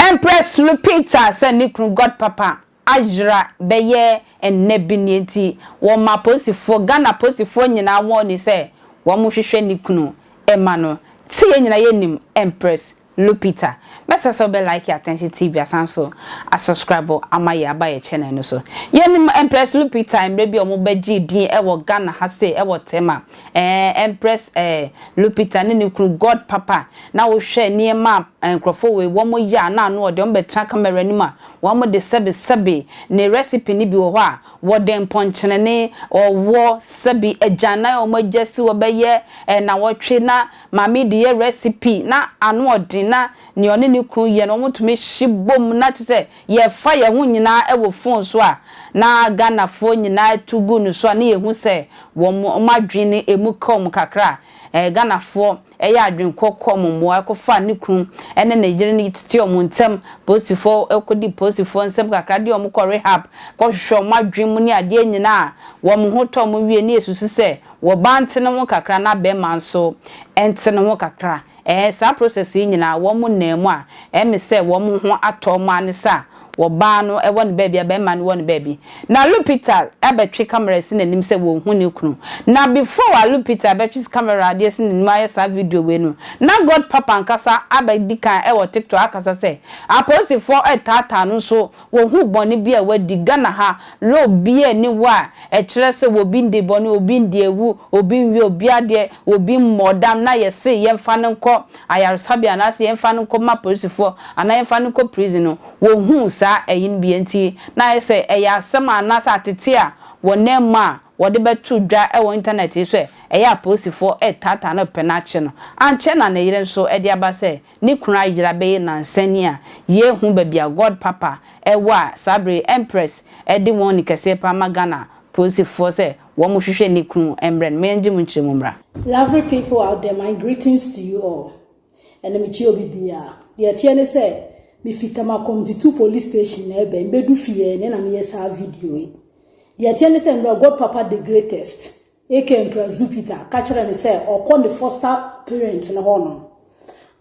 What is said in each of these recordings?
Empress Lupita sɛ ne kunu God Papa ayera bɛyɛ nnɛ bi nea nti wɔma apolisifoɔ, Ghana apolisifoɔ nyinaa wɔn ani sɛ wɔn hwehwɛ ne kunu mma no. Te yɛn nyinaa yɛnim Empress Lupita. Mɛsrɛ sɛ wobɛ like Attention TV asan so a subscribe ama yɛn aba yɛn channel no so. Yɛnim Empress Lupita mmerɛ bi a wɔn bɛ gyee din wɔ Ghana ha sei ɛwɔ Tema. Ɛɛ Empress ɛɛ Lupita ne ne kunu God Papa na wo hwɛ nneɛma a nkorɔfoɔ wei wɔn yɛ a na ano ɔdɛ wɔn bɛ tena camera anim a wɔn de sɛbi sɛbi ne recipe no bi wɔ hɔ a wɔde mpɔnkyenene, ɔwɔ, sɛbi agyan na wɔn agya si hɔ bɛyɛ ɛɛ nawɔtwe na Maame de yɛ recipe na ano ɔden na nea ɔne ne kunu yɛ no wɔn tumi hye bom na kyerɛ sɛ yɛfa yɛn ho nyinaa ɛwɔ phone so a na Ghana foɔ nyinaa tu gu no so a na yɛ hu sɛ wɔn adwene no ɛmu ka wɔn kakra a ɛɛ Ghana foɔ ɛyɛ adwene kɔ kɔ wɔn mmoa ɛkɔ fa ne kunu ɛne ne yere no tete wɔn ntɛm polisi foɔ ɛkɔ di polisi foɔ nsɛm kakra de wɔn kɔ rehab kɔ hwehwɛ wɔn adwene mu ne adeɛ nyinaa a wɔn ho tɔ wɔn wie na yɛ susu sɛ Wɔ ba nte ne ho kakra na bɛɛma nso nte ne ho kakra ɛɛ saa process yi nyinaa wɔ mo nna mu a ɛɛ me sɛ wɔ mo ho atɔ ɔmo ane sɛ a wɔ baa no wɔ ne baabi a bɛɛma no wɔ ne baabi na Lupita abɛtwe camera asi n'anim sɛ wɔ hu ne kunu na before a Lupita abɛtwe camera ade asi n'anim ayɛ saa video wei no na God papa ankasa abɛ dikan ɛwɔ TikTok akasa sɛ apolisifoɔ ɛɛtaataa no nso Wɔhu bɔne bi a wadi, Ghana ha, law biaa nni hɔ a ɛkyerɛ sɛ obi ndi bɔne, obi ndi awu, obi nwie obi adeɛ, obi mmɔɔ dam na yɛse yɛmfa no nkɔ ayaresabea anaasɛ yɛmfa no nkɔma polisifoɔ anaa yɛmfa no nkɔ prison no, wɔhuu saa ɛyeno bi nti na ayɛ sɛ ɛyɛ asɛm a anaasɛ atete a wɔnam mu a wɔde bɛto dwa wɔ internet yi so ɛ, ɛyɛ a polisifoɔ retaataa no pɛ no akye no. Ankyɛ na ne yere nso de aba sɛ Ne kunu ayera bɛyɛ nnansa ni a, yɛrehu baabi a God Papa wɔ a saa bere yi Empress de wɔn ni kɛseɛ paa ma Ghana polisifoɔ sɛ wɔnhwehwɛ ne kunu mmrɛ no. Mo yɛngye mo nkyerɛ mu mmra. Lovely people out there my greetings to you all ɛnɛ me kyia obi biaa deɛ ɛteɛ ne sɛ me fi Tamakom Titoo police station na ɛbɛn bɛdu fie ɛnɛ na me yɛ saa video yi deɛ ɛteɛ ne sɛ mmerɛ God Papa the greatest Aka Emperor Zupitor ka kyerɛɛ no sɛ ɔkɔ ne foster parent no hɔ nom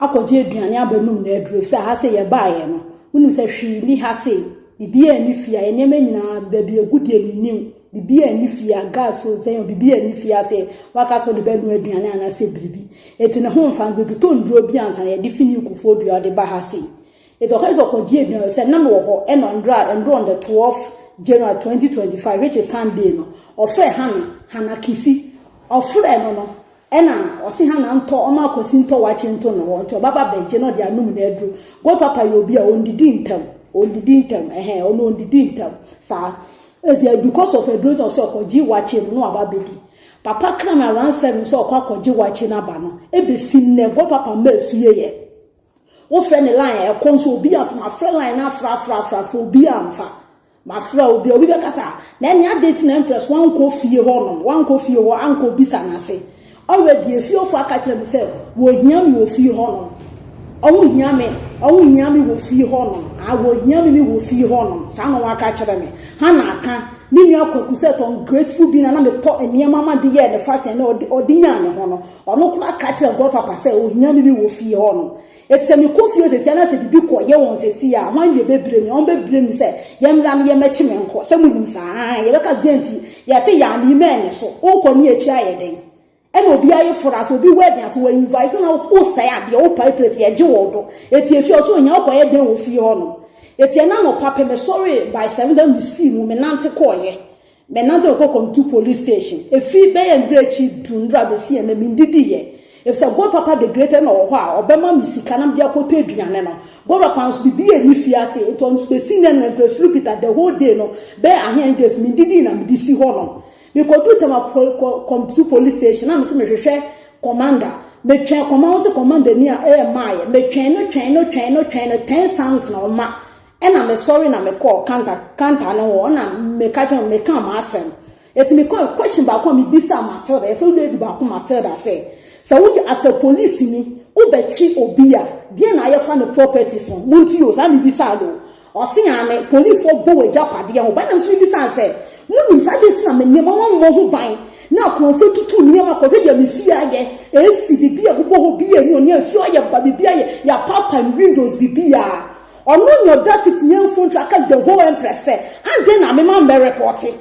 akɔgye aduane aba nom na aduru efisɛ ha sei yɛbaeɛ no wonim sɛ hwee nni ha sei biribiara nni fie a yɛ nneɛma nyinaa baabi egu deɛ mennim biribiara nni fie a gas o sɛn o biribiara nni fie ase waka sɛ ɔde bɛnoa aduane anaasɛ biribi eti ne ho mfa no bɛtotɔ nnuro bi ansa na yɛde fi ne kufuo dua ɔde ba ha sei Eti ɔka kyerɛ sɛ ɔkɔ gyee gyina sɛ na mewɔ hɔ ɛna ndrɔ a ɛndrɔ on the 12 January 2025 which is Sunday no ɔfrɛ Hannah Hannah Kisi ɔfrɛ no no ɛna ɔse Hannah ntɔ ɔma akwasi ntɔ wakye nto ne hɔ nti ɔbaba bɛgye na ɔde anum na aduro God papa yɛ obi a ɔndidi ntɛm ɔndidi ntɛm ɛhɛn ɔno ɔndidi ntɛm saa ɛti because of aduro nti ɔse ɔkɔ gye wakye no na waba bɛdi papa kra no around seven sɛ ɔkɔ akɔ gye wakye no aba no ɛbɛsi nnɛ God papa mma afie yɛ Wofrɛ ne line a ɛkɔ nso obi amfa mafrɛ line no afrɛ afrɛ afrɛ afrɛ obi amfa mafrɛ obi obi bɛkasa na ɛne ade ti na empress wankɔ fie hɔ nom wankɔ fie hɔ ankɔ bisa n'ase already efiefo aka kyerɛ me sɛ wɔhia me wɔ fie hɔ nom ɔmo hia me ɔmo hia me wɔ fie hɔ nom a wɔhia me me wɔ fie hɔ nom saa na waka kyerɛ me ha na aka ne nua kwaku sɛ tɔn grateful bi na na metɔ nneɛma ma de yɛ ne fashion na ɔde ɔde nyaa ne ho no Ɔno koraa ka kyerɛ nkɔɔ papa sɛ ohia me me wɔ fie hɔ no. Eti sɛ me kɔ fie hɔ sesia na sɛ biribi kɔ yɛ wɔn sesia a hwan deɛ bɛ bire me? Wɔn bɛ bire me sɛ yɛ mmra no yɛ mɛkye me nkɔ sɛ mo nim saa ahaa yɛ bɛka deɛn nti yɛ se yɛ amii mɛ nyɛ so wo kɔ ne akyi ayɛ dɛn ɛna obi aye fora sɛ obi wɛdin ase wɔ invite wo na wo sɛe adeɛ wo pae plate yɛ gye wɔ do eti efie ɔso ohia wo kɔ yɛ dɛn wɔ fie hɔ nom eti ɛna nɔpa pɛ me sɔre by seven da me sii mu me nante kɔ yɛ Menantew kɔɔ Komtu Police Station. Efi bɛyɛ nnura akyi du nnura besi ɛnnɛ, minnidi yɛ. Efisɛ Gold Papa the Great na ɔwɔ hɔ a ɔbɛma me sika na mede akɔtɔ aduane no. Gold Papa nso, biribiara nni fie ase, enti ɔno nso besi nnɛ no, Empress Lupita, the whole day no, bɛyɛ ahen days, minnidi na mede si hɔnom. Mekoduu Tema Pol, Ko, Komtu Police Station, na mese mehwehwɛ Commander. Metwɛn kɔma wɔn sɛ kɔmandani a, ɛyɛ mmaeɛ. Metwɛn no, twɛn no, twɛn no, twɛn no, ten cents na ɔma. Ɛna me sɔre na me kɔɔ kanta kanta no hɔ ɛna me ka kyɛn me ka m'asɛm eti me kɔ question baako a me bisa Matilda yɛfrɛ no lady baako Matilda sɛ sɛ wo yɛ asɛ police ni wo bɛ kyi obi a deɛ na ayɛ fa ne properties ho mo nti o saa me bisa no o ɔse aane police foɔ bɔ wɔ gya padeɛ ho ban na me nso me bisa no sɛ mo nim saa deɛ ti na me nie ma wɔn mmɔ ho ban na akorɔmfoɔ tutu nneɛma kɔ hwɛ deɛ me fie ayɛ ɛsi bibi a bobɔ hɔ bi yɛ ni ɔne afie ɔyɛ ba bibi ayɛ yɛ apaapae me windows bibi a. Ɔno na ɔda Sitnia mfontu aka The Whole Empress sɛ, Adɛn na mema mmɛrepɔɔte?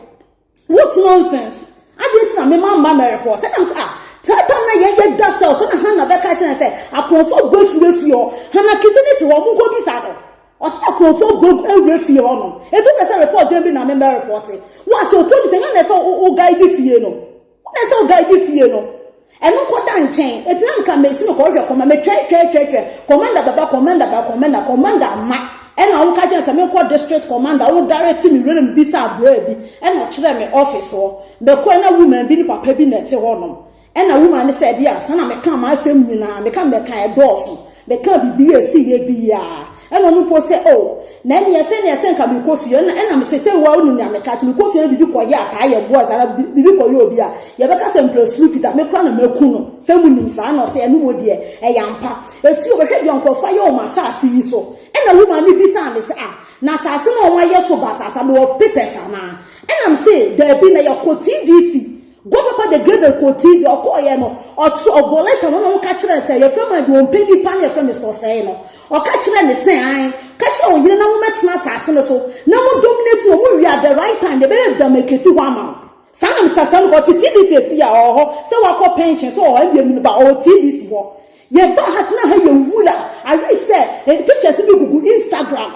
What nonsense! Adɛn nti na mema mma mmɛrepɔɔte? Ɛnam sɛ, ah, saa da no na yɛn yɛ da sɛw, so na Hannah bɛka akyerɛ yɛn sɛ, Akorɔmfoɔ agu afiri afie hɔ. Hannah Kisi no te hɔ, monkɔbisa no. Ɔse akorɔmfoɔ agu agu awura fie hɔ nom. Enti wopɛ sɛ repɔɔt dɛn bi na memmɛrepɔɔte? Wo a sɛ opolisi a, hwan na ɛsɛ sɛ wo guide fie no? Wona sɛ oguy bi fie no ɛno kɔda nkyɛn ɛtina anka mesi no kɔhwɛ kɔma metwɛn twɛn twɛn twɛn commander bɛba commander ba commander commander ama ɛna ɔmo ka kyɛn sɛ menkɔ district commander ɔmo dare ti me werem bi sɛ abraa bi ɛna ɔkyerɛ me office hɔ mɛkɔ ɛna woman bi ne papa bi na ɛte hɔ nom ɛna woman ne sɛ ɛdeɛ a saa na meka maa asɛm nyinaa meka mɛka ɛdɔɔso Mekaa biribi a ɛsiiɛ bi yi ara, ɛna ɔno mpo sɛ, Oh, na ɛnneɛ sɛdeɛ sɛ nka merekɔ fie, ɛna, ɛna mese, Sɛ wo ara wonim nea meka, nti mekɔ fie na biribi kɔyɛ a, taa yɛ boys, anaa bi, biribi kɔyɛ obi a, yɛbɛka sɛ mprɛ suru Peter, me koraa na maku no, sɛ monim saa, ɛna ɔse, Ɛno mmom deɛ, ɛyɛ ampa. Ɛfiri hɔ, hwɛ deɛ nkurɔfoɔ ayɛ wɔ m'asaase yi so. Ɛna woman no bisaa me sɛ, Ah, na asaase no a wɔayɛ so basaasa no, wɔ papers anaa? Ɛna mese, Daabi, na yɛkɔ TDC. Go papa de Gabriel kɔɔ tii deɛ ɔkɔɔyɛ no ɔtwerɛ ɔbɔɔ lɛta ma na ɔka kyerɛ sɛ yɛfrɛ ma deɛ ɔmpɛ nipa no yɛfrɛ Mister Ɔsɛe no ɔka kyerɛ ne sɛ an ka kyerɛ wo yere na mommɛtena asase no so na mo dominate no mo wie at the right time deɛ ɛbɛyɛ da mɛkɛti hɔ ama no saa na Mister Sam kɔ ɔte TDC ɛsi a ɔwɔ hɔ sɛ wakɔ pension so ɔwɔ ɛdeɛ mu no ba ɔwɔ TDC hɔ yɛba ha sena ha yɛ nwura I wish sɛ eh, pictures bi gugu Instagram.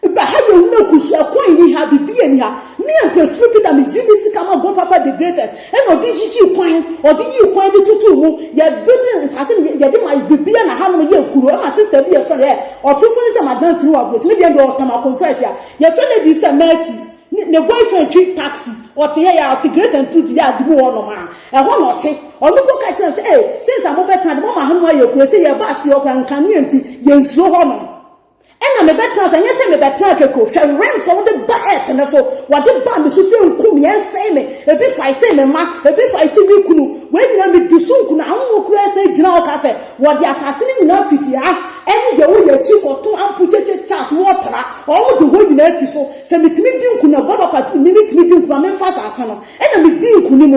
Bɛ ha yɛ ɔmo akusua kwan nni ha biribiaa nni ha me Ampersuro Peter me gye me sika ma Go Papa the greatest ɛna ɔde gyigyii kwan ɔde yii kwan de tutuu mu yɛ buildi nsaase no yɛde ma biribiaa na hanom yɛ kuro ɛma sister bi yɛfrɛ no ɛ ɔtorofo ne sɛ madam sini wɔ aburokyi me deɛ deɛ ɔtam akonfɛɛfi a yɛfrɛ lady sɛ Mercy ne ne boyfriend twi taxi ɔte hɛ yɛ ɔte Grace and Truth yɛ ade mu hɔ nom a ɛhɔ na ɔte ɔno mpo ka kyerɛ me sɛ ee since a mobɛtena de moama hanom ayɛ kuro se yɛba aseɛ ɔkora nkanea nti yɛnsuro hɔ nom Ɛna mebɛtena ase, ɛnyɛ sɛ mebɛtena kɛkɛ o. Hwɛ wrens a wode ba earth no so, wɔde baa me so sɛ nku me, ɛnsɛe me. Ebi fightee me mma, ebi fightee me kunu. Wei nyinaa medi so nku na awoɔ koraa san gyina hɔ ka sɛ wɔde asase no nyinaa fiti ha ɛne deɛ ɛwɔ yɛn akyi kɔto Ampukyekye Charles ma ɔtra, wɔde hɔ nyinaa si so. Sɛ metumi di nkunim a God of Aduane me metumi di nkunim a memfa asase no. Ɛna medii nkunim.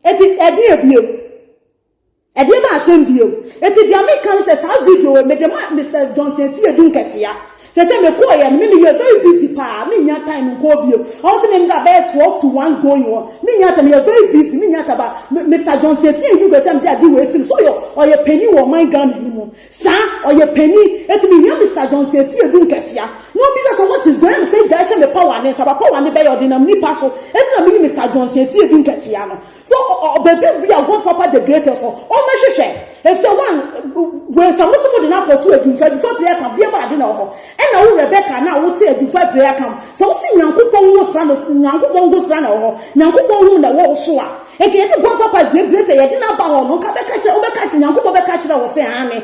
Enti ɛdeɛn bio? Ɛdeɛbɛn asɛm bio? Enti deɛ meka ne sɛ saa video wei mede ma Mister Johnson Siedu Nketiah. Seesei mekɔɔeɛ no me meyɛ very busy paa mennya time nkɔɔ bio. Ɛwɔ sɛ memmra bɛyɛ twelve to one going hɔ mennya time meyɛ very busy mennya time but Mister Johnson Siedu Nketiah mede ade wei seme sɛ ɔyɛ ɔyɛ panin wɔ ɔman Ghana no mu saa ɔyɛ panin enti mehia Mister Johnson Siedu Nketiah na ɔmmisa sɛ what is going mese agya hyɛ me pawane nsa but pawane bɛyɛ ɔdenam nipa so enti na meyi Mister Johnson Siedu Nketiah no So ɔbɛdu bia God Papa the greatest hɔ? Ɔmmɛhwehwɛ. Efisɛ one, wei sɛ mo se mo de no akɔto adwumfa, adwumfa prayer camp, bia baade na wɔ hɔ. Ɛna wo Rebecca na wo te adwumfa prayer camp. Sɛ wo se Nyankopɔn wo sra no, Nyankopɔn nko sra na ɛwɔ hɔ. Nyankopɔn hu na ɛwɔ wo so a. Nka yɛde God Papa the greatest yɛde no aba hɔ no, nka bɛka kyerɛ, wobɛka akyerɛ, Nyankopɔn bɛka akyerɛ wo se aane,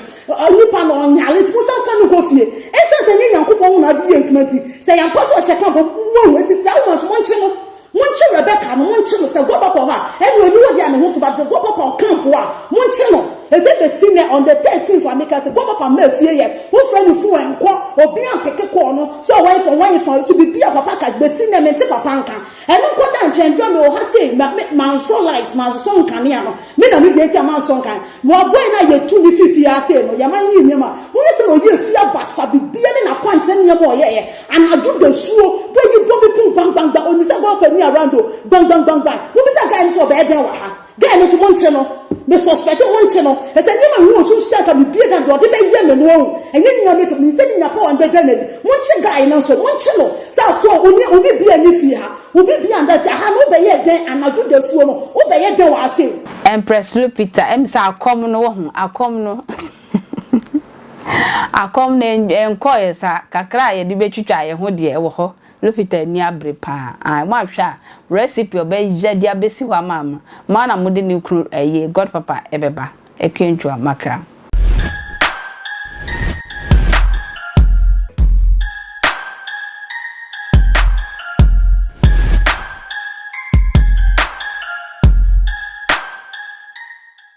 nipa no ɔnyare nti monsan mfa no nkɔ fie. Esiane sɛ ɛnyɛ Nyankopɔn na ɔde yɛ adwuma nti, sɛ yɛampa so ɔhyɛ camp a, moahu. Enti saa woman so monkye no. Monkye Rebeka no, monkye no, sɛ guabɔ kɔ hɔ a, ɛne ɔnni hɔ deɛ a ne ho so ba, sɛ guabɔ kɔ camp hɔ a, monkye no. Ɛsɛ bɛsi nnɛ, on the thirteenth a meka sɛ guabɔ pa mmaa fie yɛ, wofrɛ no fuu ɛnkɔ, obi ampeke kɔɔ no, sɛ ɔwɛn fa, ɔwɛn fa, so biribi a papa ka, bɛsi nnɛ mente papa nka. Ɛno nko da nkyɛn, dura mewɔ ha sei, ma, me, mansɔ light, mansosɔ nkanea no, me na medua nti a mansɔ nkan, wɔaboe no a yɛtu no firi fie ha sei no, yɛma no yɛ nneɛma, monhwɛ sɛdeɛ ɔyɛɛ fie abasa, biribiara ne n'akwankyerɛ nneɛma a ɔyɛeɛ, Anadwo dasuo bɔ yi bɔ me pon gbangbangban onim sɛ golf ani around o gbangbangbangbang mo bisa guy no sɛ ɔbɛyɛ dɛn wɔ ha guy no nso mo nkye no me suspect mo nkye no ɛsɛ nneɛma ho osu nso sɛ anka me bie dan deɛ ɔde bɛyɛ me no wahu ɛnyɛ ne nyame to me nsɛ ne nya power no bɛgya no adi mo nkye guy no nso mo nkye no sɛ after all onia obi bia ni fie ha obi bia nda fie aha no wobɛyɛ dɛn anadwo dasuo no wobɛyɛ dɛn wɔ ha sei. Empress Lupita, ɛm sɛ akɔm no wohu akɔm no. Akɔm no ɛnkɔɔɛ saa, kakra a yɛde bɛtwitwa yɛn ho deɛ ɛwɔ hɔ, Lupita ani abere pa ara, ae, moahwɛ a, recipe a ɔbɛyɛ de abɛsi hɔ ama mo, mo ara na mode ne kunu ɛyi, God papa ɛbɛba, Akua-Ntua Makra.